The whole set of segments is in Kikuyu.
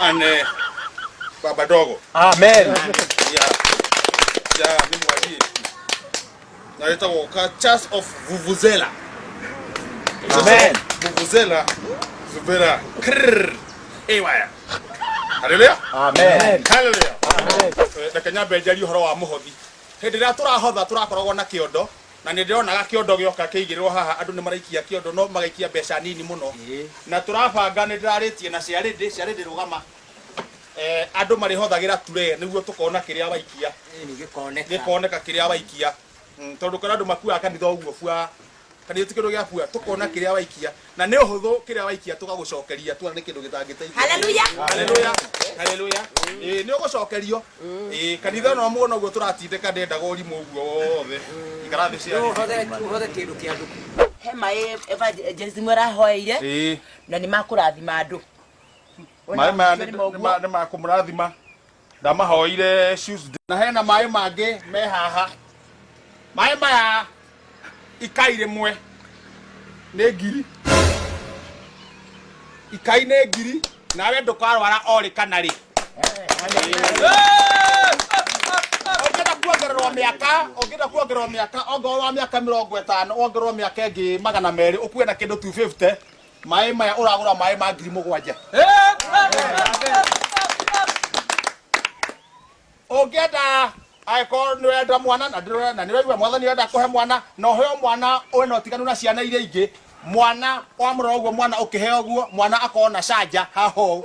and eh, baba dogo amen ya ya mimi wajie naleta woka church of vuvuzela amen vuvuzela zubera krrr ewaya haleluya amen haleluya reke nyambe njarie ũhoro wa mũhothi hĩndĩ ĩrĩa tũrahotha tũrakoragwo na kĩondo Na nĩ ndĩronaga kĩondo gĩoka kĩigĩrĩrwo haha andũ nĩ maraikia kĩondo no magaikia mbeca nini mũno. Na tũrabanga nĩ ndĩrarĩtie na Ciarĩndĩ, Ciarĩndĩ rũgama, andũ marĩhothagĩra turee nĩguo tũkona kĩrĩa waikia. Ĩni gĩkoneka. Gĩkoneka kĩrĩa waikia. Tondũ ũkĩona andũ makuaga kanitha ũguo buaa, kanitha ti kĩndũ gĩa buaa, tũkona kĩrĩa waikia. na nĩ ũhũthũ kĩrĩa waikia tũgagũcokeria tuona nĩ kĩndũ gĩtangĩteithia Hallelujah. Hallelujah. Hallelujah. Ĩĩ, nĩ ũgũcokerio Ĩĩ, kanitha no muona ũguo tũratindĩka ndendaga ũrimũ ũguo wothe ikara thĩ cia he maĩ evangelist mwe arahoeire Ĩĩ. na nĩ makũrathima andũ Ona maĩ maya macio nĩ nĩ- moguo. nĩ ma- nĩ makũmũrathima ndamahoire shoes na hena maĩ mangĩ me haha maĩ maya ikai rĩmwe nĩ ngiri ikai nĩ ngiri nawe ndũkarwara orĩ kana rĩ ũngĩenda kuongererwo mĩaka ũngĩenda kuongererwo mĩaka ongorwo wa mĩaka mĩrongo ĩtano wongererwo mĩaka ĩngĩ magana merĩ ũkue na kĩndũ 250 maĩ maya ũragũra maĩ ma ngiri mũgwanja ũngĩenda angĩkorwo nĩ wenda mwana na ndĩrona na nĩ waigua mwathani wenda kũhe mwana na ũheo mwana ũrĩ na ũtiganu na ciana iria ingĩ mwana wamũrora ũguo mwana ũkĩheo ũguo mwana akorwo na canja haho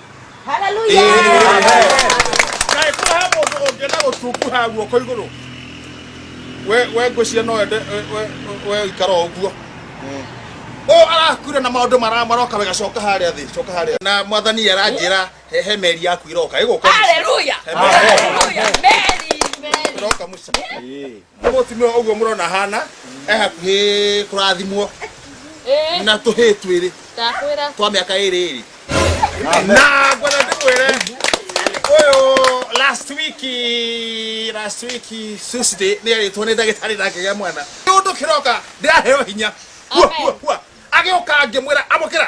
Haleluya. Kaĩ kũrĩ ha mũndũ ũngĩenda gũtunguha guoko igũrũ we we ngwĩciria no wende we- we- we ikara o ũguo o arakure na maũndũ mara- maroka wega coka harĩa thĩ coka harĩa na mwathani aranjĩra he- he meri yaku iroka ĩgũka Haleluya. Haleluya. Meri, meri. iroka mũciĩ nĩ mũtumia ũguo mũrona hana e hakuhĩ kũrathimwo na tũhĩ twĩrĩ ndakwĩra twa mĩaka ĩrĩ ĩrĩ na ngwenda ndĩkwĩre ũyũ last week last week Tuesday nĩ arĩtwo nĩ ndagĩtarĩ na ngĩgĩa mwana nĩ ũndũ kĩroka ndĩraheo hinya Hua, Amen. hua, hua. agĩũka ngĩmwĩra amũkĩra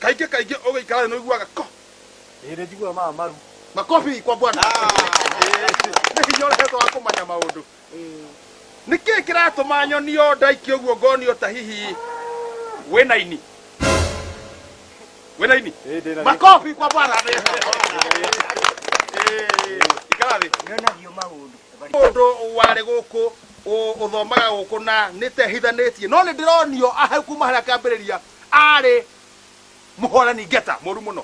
kaingĩ kaingĩ ũgĩikara thĩ nĩũiguaga ko Hĩndĩ njiguaga maya maru. makobi kwa bwana nĩ hinya ũrehetwo wa kũmanya maũndũ nĩ kĩĩ kĩratũma nyonio ndaiki ũguo ngonio ta hihi wĩna ini wĩna ini Ĩĩ, ndĩna- makobi kwa bwana Ĩĩ, ikara thĩ Nyonagio maũndũ. mũndũ warĩ gũkũ Ũ- ũthomaga gũkũ na nĩ tehithanĩtie no nĩ ndĩronio ahau kuma harĩa akĩambĩrĩria arĩ mũhorani ngeta mũru mũno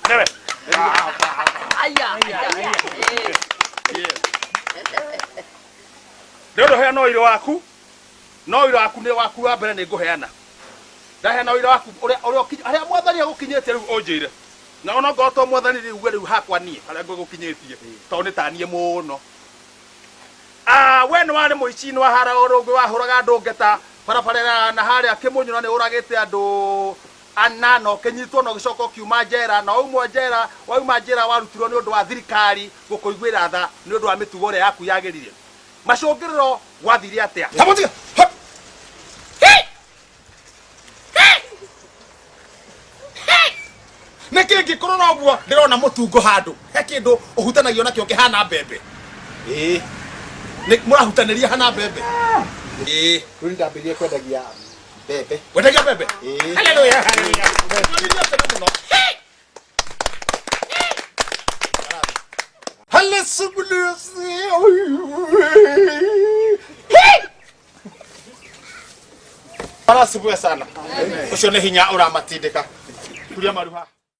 Newe. nĩ ũndũ hena ũirũ waku No ũira waku nĩ waku wa mbere nĩ ngũheana. Ndaheana ũira waku ũrĩa ũrĩa ũkinyi- harĩa mwathani agũkinyĩtie rĩu ũnjĩre. Na ona ngorwo to mwathani rĩu uge rĩu hakwa niĩ harĩa ngũgũkinyĩtie tondũ nĩ taniĩ mũno. Ah, we nĩ warĩ mũici nĩ wahara ũrũngĩ wahũraga andũ ngeta barabara na harĩa kĩmunyũra nĩ ũragĩte andũ ana na ũkĩnyitwo na ũgĩcoka ũkiuma njera na waumwo njera wauma njera warutirwo nĩ ũndũ wa thirikari gũkũiguĩra tha nĩ ũndũ wa mĩtugo ĩrĩa yaku yagĩrire macũngĩrĩro gwathire atĩa Ta mũtiga. Ha! nä kä ngä kå rora å guo ndä rona må tungo handå he kä ndå å hutanagio nakä o kä hana mbembe Ĩĩ. Nĩ- må rahutanä ria hana mbembe Ĩĩ. Rĩu nĩndambĩrĩirie kwendagia mbembe wendagia mbembe Ĩĩ. Hallelujah, hallelujah. Nĩwagĩrĩire atene mũno Arasubue sana. Ucio nĩ hinya ũramatindĩka. Turia maruha.